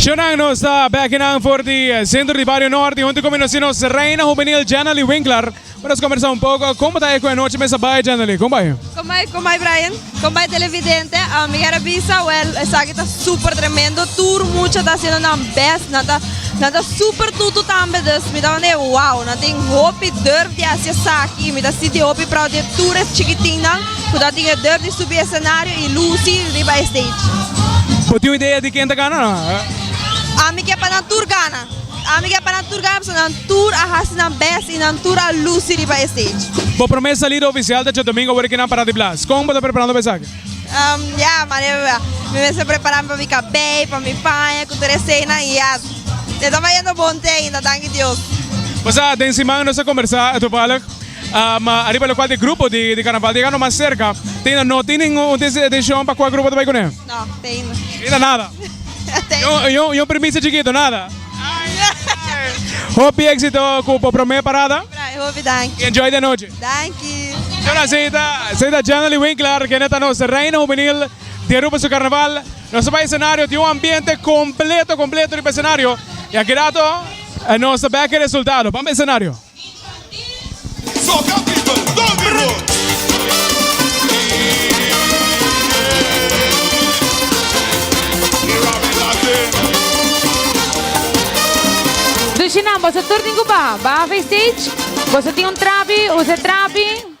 Shownan nos ta bekinan for di sentro di Bario Norte hunto ku mi nos tin nos reina hubenil Janely Winkler pa nos kombersa un poko. Como ta e ku anochi mester bai Janely? Como bai? Como bai, como bai Brian? Con bay televidente a mi kier a bisa well esaki ta super tremendo tur mucha ta haciendo nan best nan ta nan ta super tutu tambe dus mi ta wende wow nan tin hopi durf di haci esaki y mi ta sinti hopi proud di e tur e chikitin nan cu ta tin e durf di subi escenario y luci riba e stage. Bo tin un idea di ken ta gana? A mi kier pa nan tur gana. Ami ke pa nan tur gana pasobra nan tur a hasi nan best y nan tur a luci riba e stage. Bo prome salida oficial ta dje domingo ora ke nan para di blas. Con bo ta preparando pa esaki? Ya, manera mi mester preparami pa mi cabey, pa mi paña cu tur eseinan y ya. E ta bayendo bon te ainda, danki Dios. Bo sa, den siman nos a combersa topalig ariba locual di grupo di carnaval di Ecano mas cerca. Tin, no tin ningun decision pa cual grupo ta bay cune? No, pei no. Mira nada. Ni un primicia chikito, nada? Hopi exito cu bo prome parada. Brai, hopi danki. Y enjoy de nochi. Danki. Chula, si ta, si ta Janely Winkler, kende ta nos reina hubenil di Aruba su carnaval. Nos a bai escenario, tin un ambiente completo, completo riba escenario. Y aki rato nos ta bek e resultado. Bamba escenario. Dushi nan boso tur tin cu baha. Baha fe stage. Boso tin un trapi, usa e trapi.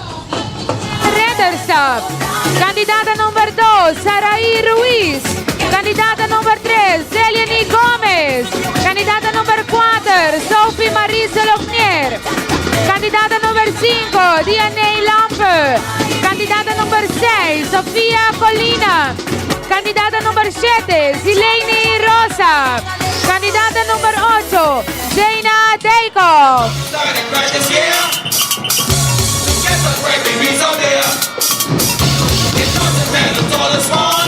Redderstap. Kandidata number dos, Saraí Ruiz. Kandidata number tres, Zeliany Gómez. Kandidata number kuater, Sophie Marisa Lognier. Kandidata number sinku, Dianey Lampe. Kandidata number seis, Sofia Colina. Kandidata number shete, Zileini Rosa. Kandidata number ocho, Jayna Daycoff.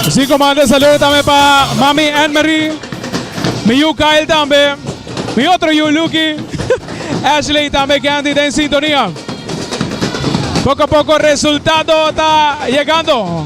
Si ko manda saludo tambe pa mami Annemarie, mi yu Kyle tambe, mi otro yu Lucky, Ashley tambe Candy ta en sintonia. Poco a poco resultado ta yegando.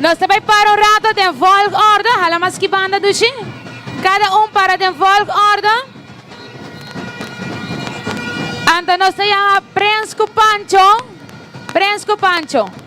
Nos ta bai para un rato den volgorde. Hala mas ki banda duchi. Kada un para den volgorde. Anto nos ta yama Prens ku Pancho. Prens ku Pancho.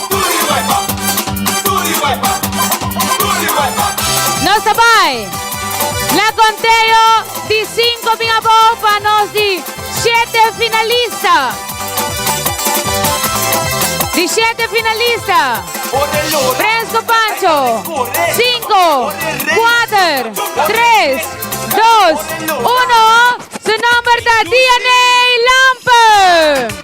Nos ta bai. La conteo di cinco bin abou pa nos di siete finalista. Di siete finalista. Prens cu Pancho. Cinco, cuater, tres, dos, uno. Su nomber ta DNA Lampe.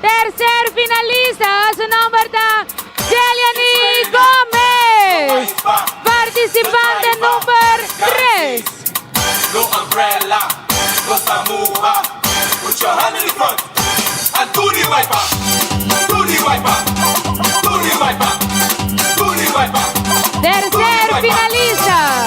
Tercer finalista su nomber ta Jeliani Gomez participante number tres. Tercer finalista.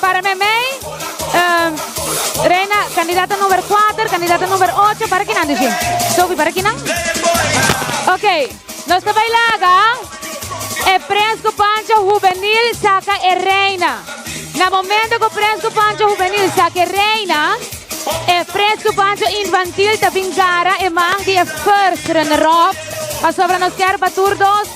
Para me mei, uh, Reina, candidata number 4, candidata number 8, para kinan dici? Sophie, para kinan? Ok, nos te bailaga. E Presco Pancho Juvenil saca e Reina. Na momento que Presco Pancho Juvenil saca e Reina, e Presco Pancho Infantil te bin cara e man die first runner-up. Pasobra nos quer batur dos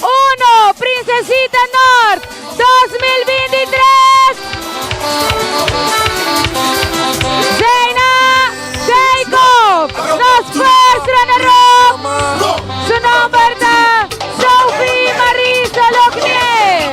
Uno, Princesita North dos mil binti tres, Zeina Jacob, nos first runner up, su nomber ta Sophie Marisa Lognier.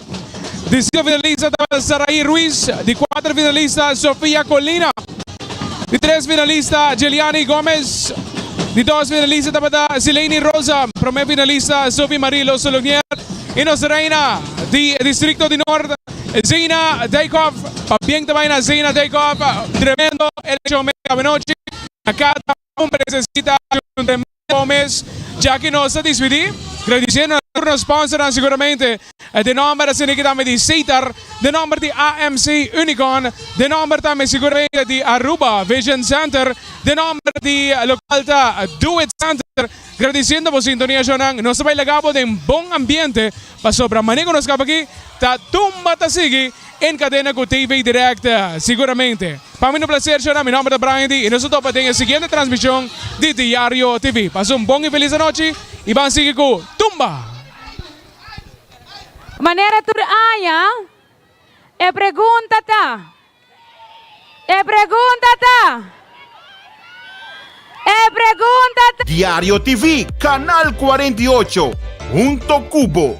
di sinku finalista tabata Saraí Ruiz, di kuater finalista Sofia Colina, di tres finalista Jeliani Gómez, di dos finalista tabata Sileini Rosa, promé finalista Sophie Marie Losolonier i nos reina di distrikto di Nort Zeina Dijkhoff. Pabien ta bai na Zeina Dijkhoff, tremendo elekshon mega anochi na Kata. un presesita di un tremendo bon mes dja ki nos ta dispidi gradisiendo na tur nos sponsornan seguramente den nomber asina ki tambe di Sitar den nomber di AMC Unicon den nomber tambe seguramente di Aruba Vision Center den nomber di local ta Do It Center gradisiendo bo sintonia shownan nos ta bay laga bo den bon ambiente pasobra mane ku nos kaba aki ta tumba ta sigui. En Cadena cu TV Directa. Siguramente. Pa mi un placer shona, mi nomber ta Bryandy y nos ta topa den e siguiente transmision di Diario TV. Pasa un bon y feliz anochi y ban sigui cu Tumba! Manera tur aña, e pregunta ta, e pregunta ta, e pregunta ta. Diario TV, Canal cuarenta y ocho, hunto cu bo.